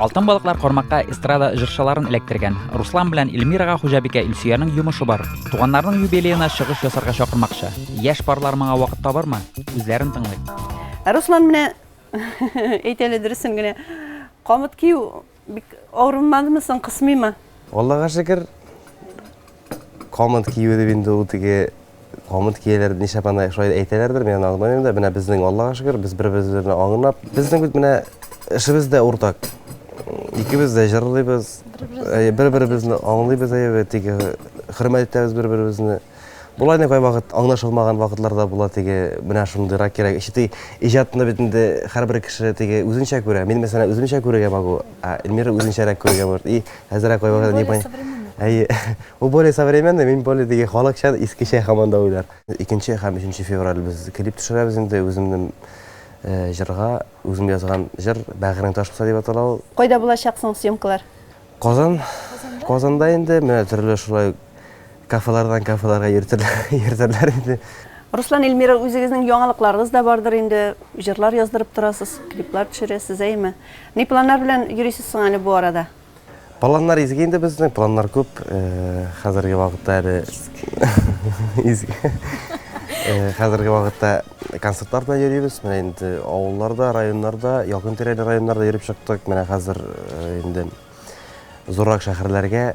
Алтын балыклар кармакка эстрада җырчыларын эләктергән. Руслан белән Эльмирага хуҗабикә Илсөянең йомышы бар. Туганнарның юбилеена чыгыш ясарга чакырмакчы. Яшь парлар моңа вакыт табармы? Үзләрен тыңлыйк. Ә Руслан менә, әйт әле дөресен генә, камыт кию бик авырмадымы соң, кысмыймы? Аллага шөкер. Камыт кию дип инде ул теге камыт кияләр ничә пана шулай әйтәләрдер, мин аны аңламыйм да. Менә безнең Аллага шөкер, без бер-беребезне аңлап, безнең бит менә эшебез дә уртак. Икебез дә җырлыйбыз, бер-беребезне аңлыйбыз, әйе, теге хөрмәт итәбез бер-беребезне. Болай да кайвакыт аңлашылмаган вакытлар да була, теге менә шундыйрак кирәк. Эче теге иҗатны бит инде һәрбер кеше теге үзенчә күрә. Мин мәсәлән үземчә күрергә могу, ә Эльмира үзенчәрәк күрергә может. И Әзрәк кайвакыт не понятно. Әйе. Ул более современный, мин более диге халыкча, искечә һаман да уйлар. Икенче һәм өченче февраль без клип төшерәбез инде үземнең җырга, үзем язган җыр Бәгырен таш кыса дип атала ул. Кайда булачак соң съемкалар? Казан. Казанда инде, менә төрле шулай Кафелардан кафеларга йөртерләр инде. Руслан, Эльмира, үзегезнең яңалыкларыгыз да бардыр инде. Җырлар яздырып торасыз, клиплар төшерәсез, әйеме? Ни планнар белән йөрисез соң әле бу арада? Планнар изге инде безнең, планнар күп. Хәзерге вакытта әле изге. Хәзерге вакытта концертлар белән йөрибез. Менә инде авылларда, районнарда, якын-тирәле районнарда йөреп чыктык. Менә хәзер инде зуррак шәһәрләргә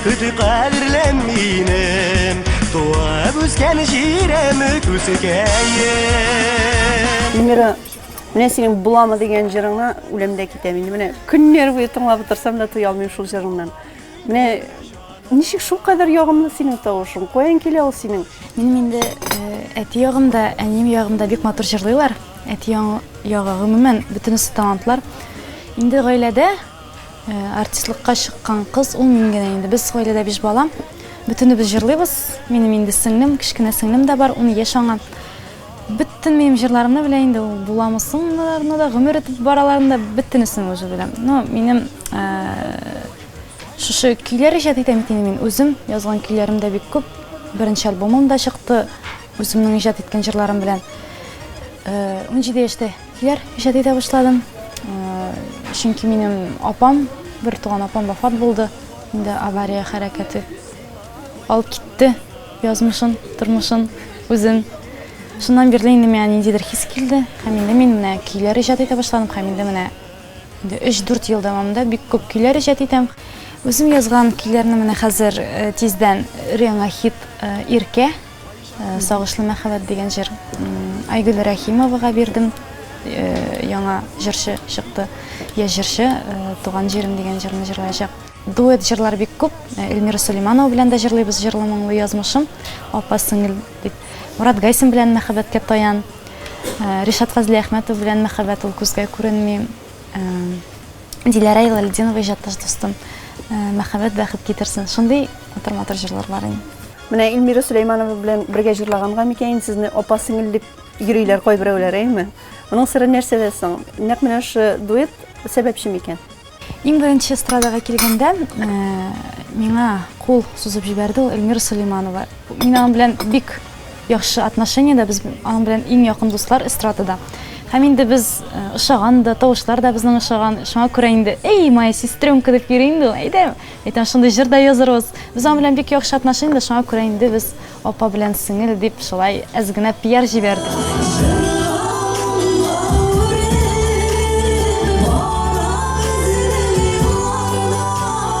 Көти кадерлем минем Туып үскән җирем Күсекәем Эльмира, менә синең буламы дигән җырыңа үләмдә китәм инде. Менә көннәр буе тыңлап утырсам да туя алмыйм шул җырыңнан. Менә ничек шул кадәр ягымлы синең тавышың? Каян килә ул синең? Минем инде әти ягымда, әнием ягымда бик матур җырлыйлар. Әти ягы гомумән бөтенесе талантлар. Инде гаиләдә Э, артистлыкка чыккан кыз ул мин генә инде без гаиләдә биш бала бөтенебез җырлыйбыз минем инде сеңлем кечкенә сеңлем дә бар ун яшь аңа бөтен минем җырларымны белә инде ул буламы соңларына да гомер үтеп бараларын да бөтенесен уже белә но минем э, шушы көйләр иҗат итәм бит инде мин үзем язган көйләрем дә бик күп беренче альбомым да чыкты үземнең иҗат иткән җырларым белән э, унҗиде яшьтә Диләр, иҗади дә башладым. Чөнки минем апам, бер туган апам вафат булды. Инде авария хәрәкәте алып китте язмышын, тормышын, үзен. Шуннан бирле инде миңа ниндидер хис килде. Һәм инде мин менә көйләр иҗат итә башладым. Һәм инде менә инде 3-4 ел дәвамында бик күп көйләр иҗат итәм. Үзем язган көйләрне менә хәзер тиздән реңа хит Иркә Э, Сагышлы мәхәббәт дигән җыр Айгөл Рәхимовага бирдем. Э, яңа җырчы чыкты. Я җырчы э, Туган җирем дигән җырны җырлаячак. Дуэт җырлар бик күп. Эльмира Сулейманова белән дә җырлыйбыз җырлы моңлы язмышым, апа сеңел дип. Мурат Гайсин белән мәхәббәткә таян. Ришат Фазлиәхмәтов белән мәхәббәт ул күзгә күренми. Диләрә Илалетдинова иҗатташ дустым, мәхәббәт бәхет китерсен. Шундый матур-матур җырлар бар инде. Менә Эльмира Сөләйманова белән бергә җырлаганга микәен сезне апа-сеңел дип йөриләр кайберәүләр, әйеме? Моның сыры нәрсәдә соң? Нәкъ менә шушы дуэт сәбәпче микән? Иң беренче эстрадага килгәндә, миңа кул сузып җибәрде ул Эльмира Сөләйманова. Мин аның белән бик Яхшы отношениедә без аның белән иң якын дуслар эстрадада. Һәм инде без ошаган да, тавышлар да безнең ошаган. Шуңа күрә инде, Эй, моя сестренка дип йөри инде ул. Әйдә, әйтәм, шундый җыр да язырбыз. Без аның белән бик яхшы отношениедә, шуңа күрә инде без апа белән сеңел дип шулай әз генә пиар җибәрдек.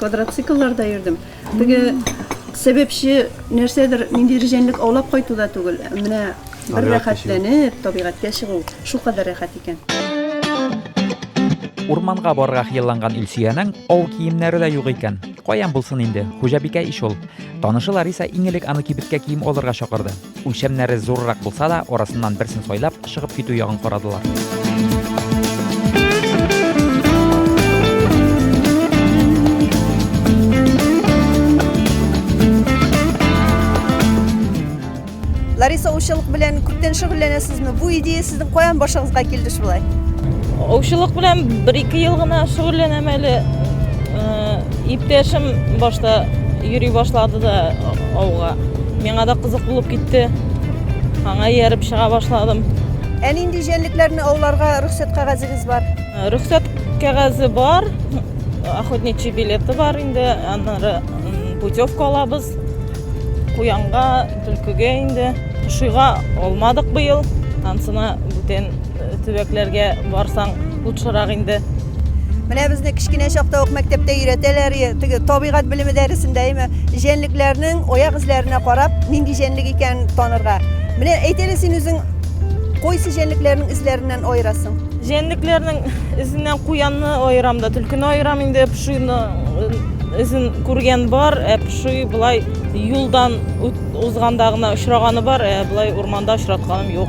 Квадроциклларда йөрдем. Теге сәбәпче нәрсәдер нинди рҗәнлек аулап кайту да түгел. Менә бер рәхәтләнеп табигатькә чыгу шул кадәр рәхәт икән. Урманга барырга хыялланган Илсөянең ау киемнәре дә юк икән. Каян булсын инде, хуҗабикә ич ул. Танышы Лариса иң элек аны кибеткә кием алырга чакырды. Үлчәмнәре зуррак булса да, арасыннан берсен сайлап, чыгып китү ягын карадылар. Лариса аучылык белән күптән шөгыльләнәсезме? Бу идея сезнең каян башыгызга килде шулай? Аучылык белән бер-ике ел гына шөгыльләнәм әле. Э, иптәшем башта йөри башлады да авга. Миңа да кызык булып китте. Аңа ияреп чыга башладым. Ә нинди җәнлекләрне ауларга рөхсәт кәгазегез бар? Рөхсәт кәгазе бар, охотничий билеты бар инде, аннары путевка алабыз. Куянга, түлкегә инде. Шуйга алмадык быел. Ансына бүтән төбәкләргә барсаң, лучшерак инде. Менә безне кечкенә чакта ук мәктәптә өйрәтәләр, теге табигать белеме дәресендә, әйме, җәнлекләрнең аяк эзләренә карап, нинди җәнлек икәнен танырга. Менә әйт әле син үзең кайсы җәнлекләрнең эзләреннән аерасың? Җәнлекләрнең эзеннән куянны аерам да, төлкене аерам инде, пшуйны эзен күргән бар, ә пшуй былай юлдан узганда гына очраганы бар, ә былай урманда очратканым юк.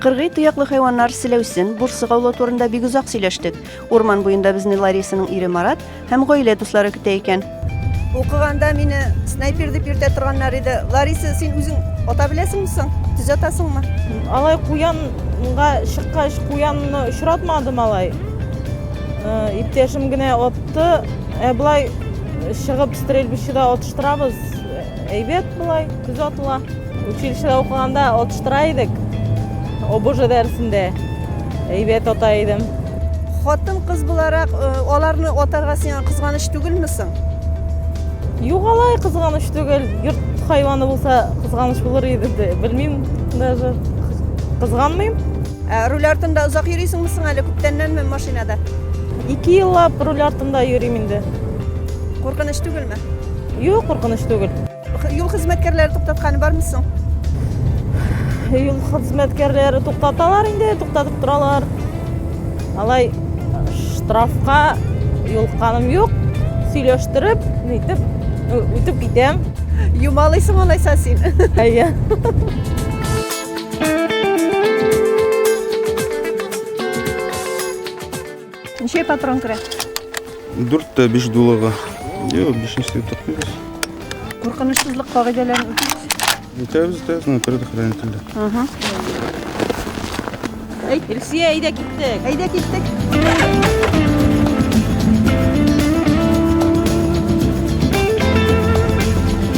Кыргый тояклы хайваннар селәүсен, бурсык аулау турында бик озак сөйләштек. Урман буенда безне Ларисаның ире Марат һәм гаилә дуслары көтә икән. Укыганда мине снайпер дип йөртә торганнар иде. Лариса, син үзең ата беләсеңме соң? Төз атасыңмы? Алай куянга чыккач, куянны очратмадым алай. Э, иптәшем генә отты. Ә болай чыгып стрельбищеда отыштырабыз. Әйбәт болай, көз атыла. Училищеда укыганда атыштыра идек. ОБЖ дәресендә әйбәт ата идем. Хатын кыз буларак э, аларны атарга сиңа кызганыч түгелме соң? Юк алай кызганыч түгел. Йорт хайваны булса кызганыч булыр иде дә. Белмим даже. Кызганмыйм. Ә руль артында озак йөрисеңме соң әле күптәннәнме машинада? Ике еллап руль артында йөрим инде. Куркыныч түгелме? Юк, куркыныч түгел. Юл хезмәткәрләре туктатканы бармы соң? Юл хезмәткәрләре туктаталар инде, туктатып торалар. Алай штрафка юлыкканым юк. Сөйләштереп, нитеп үтеп китәм. Юмалыйсың алайса син. Әйе. Ничә патрон керә? Дүрттә биш дулыга. Йо, бишенче тотмыйбыз. Куркынычсызлык кагыйдәләрен үтибез. Үтәбез, үтәбез, мына предохранен телдә. Ага. Әй, Илсия, әйдә киттек. Әйдә киттек.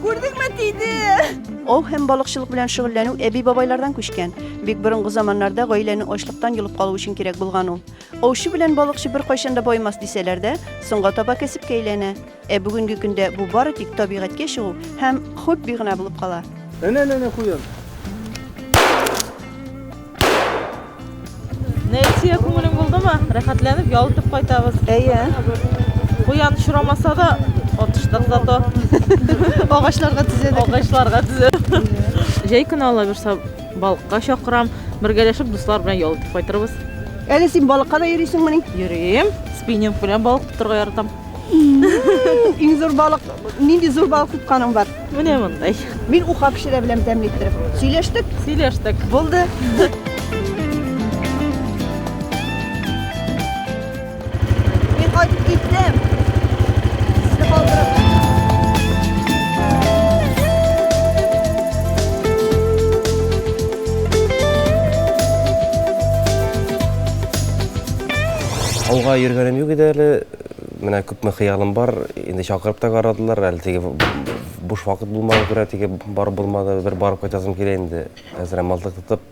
Күрдеңме, тиде! Ау һәм балыкчылык белән шөгыльләнү әби-бабайлардан күчкән. Бик борынгы заманнарда гаиләне ачлыктан йолып калу өчен кирәк булган ул. Аучы белән балыкчы беркайчан да баймас дисәләр дә, соңга таба кәсепкә әйләнә. Ә бүгенге көндә бу бары тик табигатькә чыгу һәм хобби гына булып кала. Әнә-әнә-әнә куян. Нәрсә күңелең булдымы? Рәхәтләнеп ял итеп кайтабыз. Әйе. Куян шурамаса да отыштык зато. Агачларга төзәдек. Агачларга төзәдек. Җәй көне ала бирсә балыкка чакырам. Бергәләшеп дуслар белән ял итеп кайтырбыз. Әле син балыкка да йөрисеңмени? Йөрим. Спиннинг белән балык тотарга яратам. Иң зур балык, нинди зур балык тотканың бар? Менә мондай. Мин уха пешерә беләм тәмле иттереп. Сөйләштек? Сөйләштек. Булды. Мин кайтып киттем. Сезне калдырып. Ауга йөргәнем юк иде әле. Менә күпме хыялым бар, инде чакырып та карадылар, әле теге буш вакыт булмаган күрә теге бар булмады, бер барып кайтасым килә инде. Хәзер әм мылтык тотып,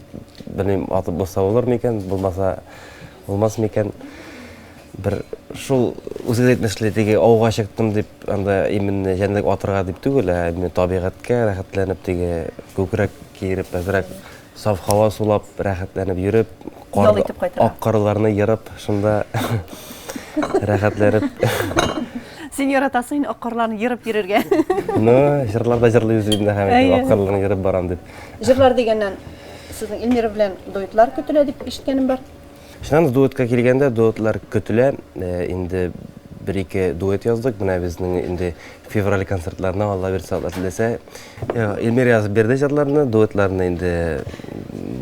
белмим, атып булса булыр микән, булмаса булмас микән. Бер шул үзе дә әйтмешли, теге ауга чыктым дип, анда именно җәнлек атырга дип түгел, ә именно табигатькә рәхәтләнеп теге күкрәк киереп әзрәк Саф һава сулап, рәхәтләнеп йөреп, Ял итеп кайтырга. ак карларны ерып, шунда рәхәтләнеп. Син яратасың инде ак карларны ерып йөрергә. Ну, җырлар да җырлыйбыз бит инде һәм әйтеп, ак карларны ерып барам дип. Җырлар дигәннән, сезнең Эльмира белән дуэтлар көтелә дип ишеткәнем бар. Ишанов дуэтка килгәндә, дуэтлар көтелә. Э, инде бер-ике дуэт яздык. Менә безнең инде февраль концертларына Алла бирсә, Алла теләсә. Э, Эльмир язып бирде җырларны, дуэтларны инде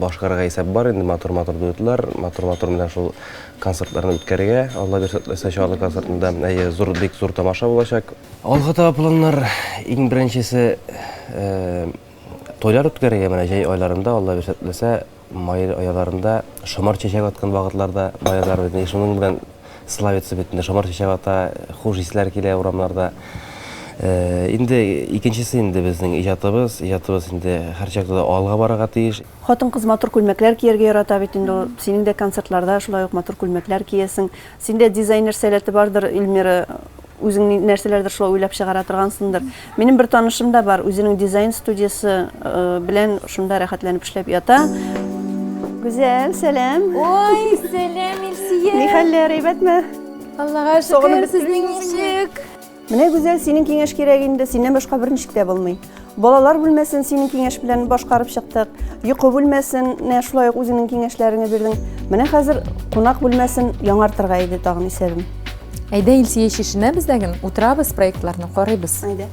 башкарырга исәп бар. Инде матур-матур дуэтлар, матур-матур менә шул концертларны үткәрергә. Алла бирсә, теләсә Чаллы концертында әйе, зур бик зур тамаша булачак. Алга таба планнар иң беренчесе э, тойлар үткәрергә менә җәй айларында Алла бирсә, теләсә Май аяларында шомырт чәчәк аткан вакытлар да баягылар бит, шуның белән славится бит инде, шомырт чәчәк ата, хуш исләр килә урамнарда. Инде икенчесе инде безнең иҗатыбыз, иҗатыбыз инде һәрчакта да алга барырга тиеш. Хатын-кыз матур күлмәкләр кияргә ярата бит инде ул, синең дә концертларда шулай ук матур күлмәкләр киесең. Синдә дизайнер сәләте бардыр, Ильмира Үзең нәрсәләрдер шулай уйлап чыгара торгансыңдыр. Минем бер танышым да бар, үзенең дизайн студиясе э, белән шунда рәхәтләнеп эшләп ята. Гүзәл, сәлам. Ой, сәлам, Илсия. Ни хәлләр, әйбәтме? Аллага шөкер, сезнең ничек? Менә Гүзәл, синең киңәш кирәк инде, синнән башка берничек тә булмый. Балалар бүлмәсен синең киңәш белән башкарып чыктык. Йокы бүлмәсен шулай ук үзеңнең киңәшләреңне бирдең. Менә хәзер кунак бүлмәсен яңартырга иде тагын исәбем. Әйдә, Илсия, чишенәбез дә гел, утырабыз, проектларны карыйбыз. Әйдә.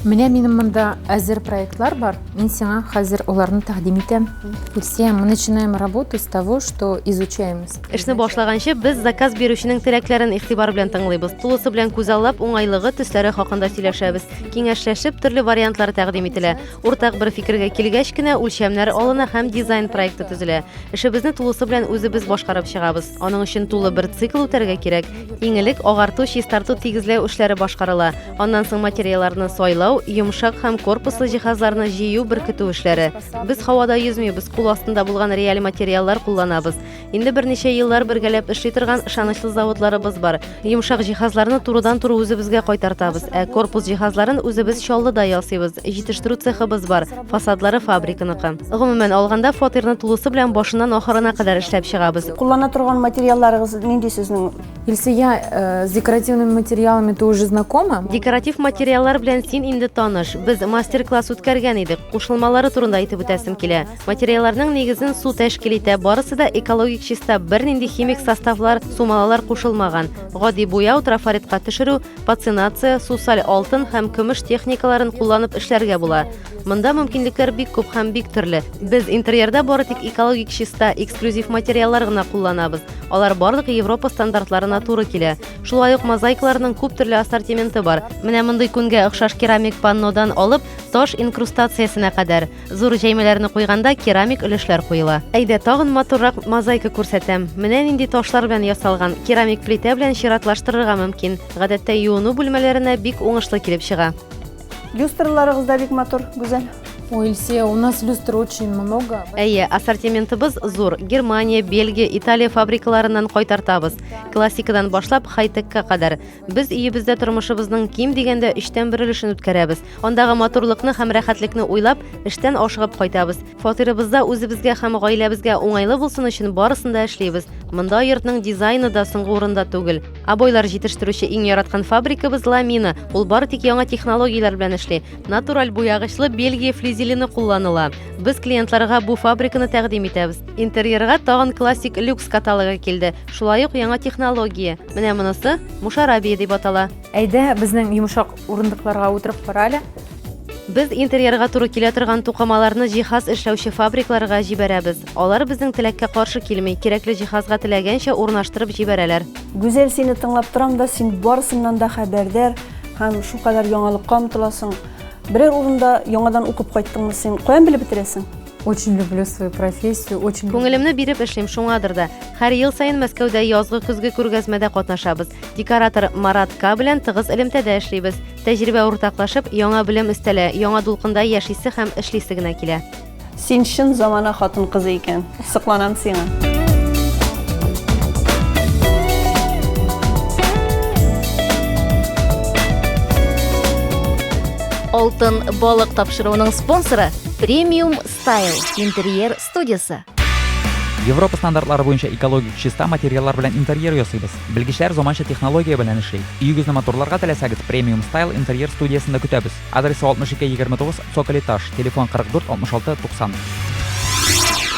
Менә минем монда әзер проектлар бар. Мин сиңа хәзер аларны тәкъдим итәм. Илсия, мы начинаем работу с того, что изучаем. Эшне башлаганчы без заказ бирүченең теләкләрен игътибар белән тыңлыйбыз. Тулысы белән күзаллап, уңайлыгы, төсләре хакында сөйләшәбез. Киңәшләшеп, төрле вариантлар тәкъдим ителә. Уртак бер фикергә килгәч кенә, үлчәмнәр алына һәм дизайн проекты төзелә. Эшебезне тулысы белән үзебез башкарып чыгабыз. Аның өчен тулы бер цикл үтәргә кирәк. Иң элек агарту, чистарту, тигезләү эшләре башкарыла. Аннан соң материалларны сайлау, йомшак һәм корпуслы җиһазларны җыю, беркетү эшләре. Без һавада йөзмибез, кул астында булган реаль материаллар кулланабыз. Инде берничә еллар бергәләп эшли торган ышанычлы заводларыбыз бар. Йомшак җиһазларны турыдан туры үзебезгә кайтартабыз, ә корпус җиһазларын үзебез Чаллыда ясыйбыз. Җитештерү цехыбыз бар, фасадлары фабриканыкы. Гомумән алганда, фатирны тулысы белән башыннан ахырына кадәр эшләп чыгабыз. Куллана торган материалларыгыз нинди сезнең? Илсөя, э, с декоративными материалами ты уже знакома? Декоратив материаллар белән син инде таныш. Без мастер-класс үткәргән идек. Кушылмалары турында әйтеп үтәсем килә. Материалларның нигезен су тәшкил итә, барысы да экологик чиста, бернинди химик составлар, сумалалар кушылмаган. Гади буяу, трафаретка төшерү, пацинация, сусаль алтын һәм көмеш техникаларын кулланып эшләргә була. Монда мөмкинлекләр бик күп һәм бик төрле. Без интерьерда бары тик экологик чиста, эксклюзив материаллар гына кулланабыз. Алар барлык Европа стандартларына туры килә. Шулай ук мозаикаларның күп төрле ассортименты бар. Менә мондый күнгә охшаш керамик паннодан алып, таш инкрустациясенә кадәр. Зур җәймәләрне куйганда керамик өлешләр куела. Әйдә, тагын матуррак мозаика күрсәтәм. Менә нинди ташлар белән ясалган. Керамик плитә белән чиратлаштырырга мөмкин. Гадәттә юыну бүлмәләренә бик уңышлы килеп чыга. Люстраларыгыз да бик матур, гүзәл. Ой, Ильсия, у нас люстр очень много. Әйе, ассортиментыбыз зур. Германия, Бельгия, Италия фабрикаларыннан кайтартабыз. Классикадан башлап хай-текка кадәр. Без өебездә тормышыбызның ким дигәндә өчтән бер өлешен үткәрәбез. Андагы матурлыкны һәм рәхәтлекне уйлап, эштән ашыгып кайтабыз. Фатирыбызда үзебезгә һәм гаиләбезгә уңайлы булсын өчен барысын да эшлибез. Монда йортның дизайны да соңгы урында түгел. Абойлар җитештерүче иң яраткан фабрикабыз Ламина. Ул бары тик яңа технологияләр белән эшли. Натураль буягычлы Бельгия флизелены кулланыла. Без клиентларга бу фабриканы тәкъдим итәбез. Интерьерга тагын классик люкс каталогы килде. Шулай ук яңа технология. Менә монысы мушарабия дип атала. Әйдә, безнең йомшак урындыкларга утырып кара әле. Без интерьерга туры килә торган тукымаларны җиһаз эшләүче фабрикларга җибәрәбез. Алар безнең теләккә каршы килми, кирәкле җиһазга теләгәнчә урнаштырып җибәрәләр. Гүзәл, сине тыңлап торам да, син барысыннан да хәбәрдар һәм шулкадәр яңалыкка омтыласың. Берәр урында яңадан укып кайттыңмы син? Каян белеп бетерәсең? Очень люблю свою профессию, очень... Күңелемне биреп эшлим, шуңадыр да. Һәр ел саен Мәскәүдә язгы-көзге күргәзмәдә катнашабыз. Декоратор Марат К белән тыгыз элемтәдә эшлибез. Тәҗрибә уртаклашып, яңа белем өстәлә, яңа дулкында яшисе һәм эшлисе генә килә. Син чын замана хатын кызы икән. Сокланам сиңа. Алтын балык тапшыруының спонсоры Премиум Стайл интерьер студиясе. Европа стандартлары буенча экологик чиста материаллар белән интерьер ясыйбыз. Белгечләр заманча технология белән эшли. Өегезне матурларга теләсәгез, Премиум Стайл интерьер студиясендә көтәбез. Адресы 6229 Цоколь этаж, телефон 44 66 90.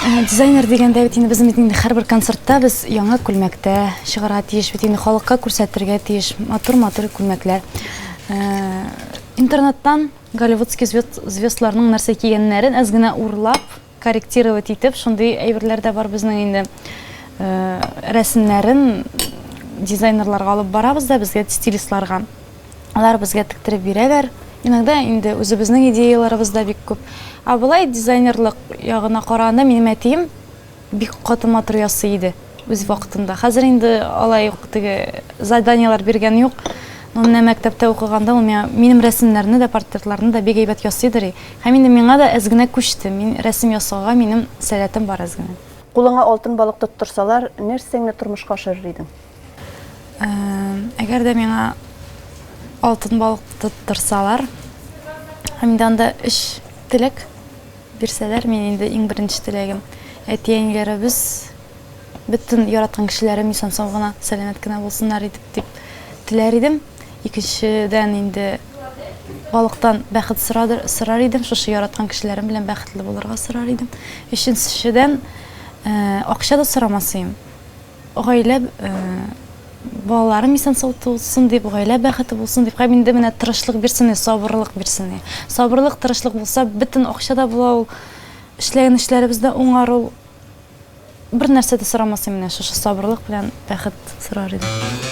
Э, дизайнер дигәндә бит инде безнең бит инде һәрбер концертта без яңа күлмәктә чыгара тиеш бит инде халыкка күрсәтергә тиеш матур матур күлмәкләр э, интернеттан Голливудский звезд, звездларның нәрсә кигәннәрен әз генә урлап, корректировать итеп, шундый әйберләр дә бар безнең инде. Э, рәсемнәрен дизайнерларга алып барабыз да безгә стилистларга. Алар безгә тектереп бирәләр. Иногда инде үзебезнең идеяларыбыз да бик күп. Ә болай дизайнерлык ягына караганда минем әтием Бик каты матур ясый иде үз вакытында. Хәзер инде алай ук теге заданиеләр биргән юк. Но менә мәктәптә укыганда ул миңа минем рәсемнәрне дә, портретларны да бик әйбәт ясый дери. Һәм инде миңа да әз генә күчте. Мин рәсем ясауга минем сәләтем бар әз генә. Кулыңа алтын балык тоттырсалар, нәрсәңне тормышка ашырыр идең? Әгәр дә миңа алтын балык тоттырсалар, һәм инде анда өч теләк бирсәләр, мин инде иң беренче теләгем. Әти-әниләребез бөтен яраткан кешеләрем исән-сау гына, сәламәт кенә булсыннар иде дип теләр идем. Икенчедән инде балыктан бәхет сорар идем, шушы яраткан кешеләрем белән бәхетле булырга сорар идем. Өченчедән, акча да сорамас идем. Гаилә балаларым исән сау тусын дип, гаилә бәхете булсын дип, һәм инде менә тырышлык бирсен, сабырлык бирсен. Сабырлык, тырышлык булса, бөтен акча да була ул, эшләгән эшләребез дә уңар ул. Бернәрсә дә сорамас идем, менә шушы сабырлык белән бәхет сорар идем.